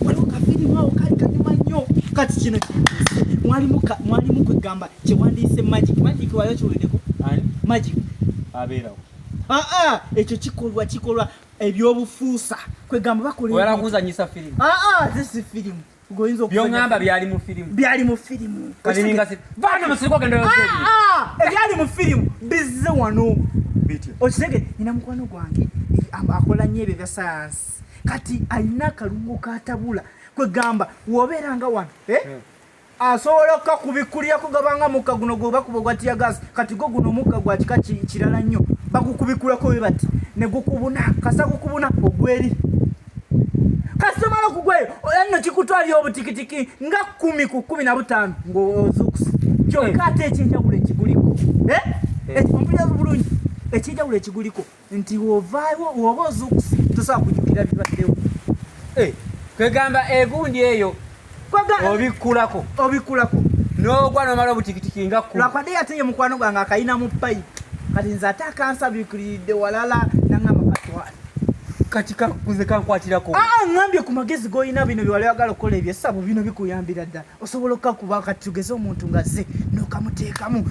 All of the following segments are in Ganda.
waliwo kafirimu awo kali kanyuma nnyo kati kino mwalimu mwalimu kwegamba kyewandiyise magic magic waliwo kiwulideko magic abeerawo aa ah, ah, ekyo kikolwa kikolwa ebyobufuusa kwegamba bakolakuzanyisa firimu aa ah, zisi firimu byongamba byali mu firimu byali mu firimu ebyali mu firimu bizze wano okitegere nina mukwano gwange akola nyo ebyo bya sayansi kati alina akalungo katabula kwegamba wobeera nga wano eh? hmm. asobola okukakubikkulira kugabanga mukka guno gwebakuba ogwatiyagaasi kati go guno omukka gwa kika kirala nnyo bagukubikkulako we bati ne gukubuna kasa gukubuna ogweri kasomala okugwayo anno kikutwalira obutikitiki nga kumi ku kumi na butaano ng'ozuukusa kyokka ate ekyenjawulo ekiguliko eh? eh. ekiguliko ekyenjawulo ekiguliko nti wovaayo woba ozukuse tosobola kujukira bibaddewo eh, kwegamba egundi eyo obikkulako obikkulako nogwa nomala obutikitiki nga kulwakwade ate ye mukwano gwange akayina mu payi kati nze ate akansabikiriridde walala nangamba katwale kati kakuze kankwatirako ah, ah, ngambye ku magezi golina bino byewali wagala okukola ebyesabo bino bikuyambira ddala osobola okukakuba kati tugeze omuntu nga ze nokamuteekamu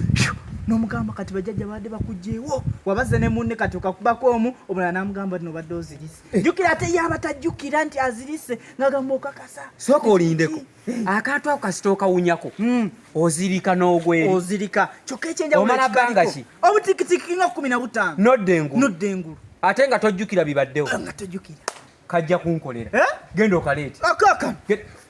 nomugamba kati bajajja baadde bakugyewo wabaze ne munne kati okakubako omu omulala namugamba ti nobadde ozirise eh. jukira ate yaba tajjukira nti azirise ngagamba okakasa sooka olindeko eh. akantu ako kasita okawunyako hmm. ozirika n'ogweri ozirika kyokka ekyenjaomala bbanga ki obutikitiki nga kumi na butaano nodda engulu nodda engulu ate nga tojjukira bibaddewo nga tojjukira kajja kunkolera eh? genda okaleete akakano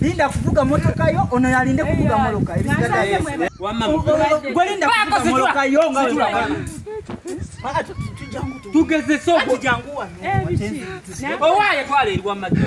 Linda kuvuga motoka yo ono yalinde kuvuga moloka gwelinda kuvuga moloka yo tugeze soko owaye twala eri wamajja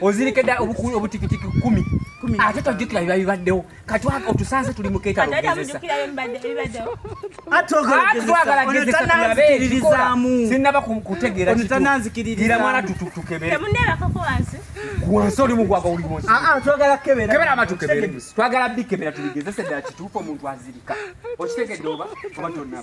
ozirike dda obukulu obutikitiki kumi ate tojjukira biba bibaddewo katwaka otusanze tuli mukeetalugezesatwagalasinaba kutegeeratananzikirira mwana tutukebere wansi oli mugwaga oli munsi ah, ah, twagala kebera amatukebere twagala bikebera tubigezese ddala kituufu omuntu azirika okitegedde oba oba tonaba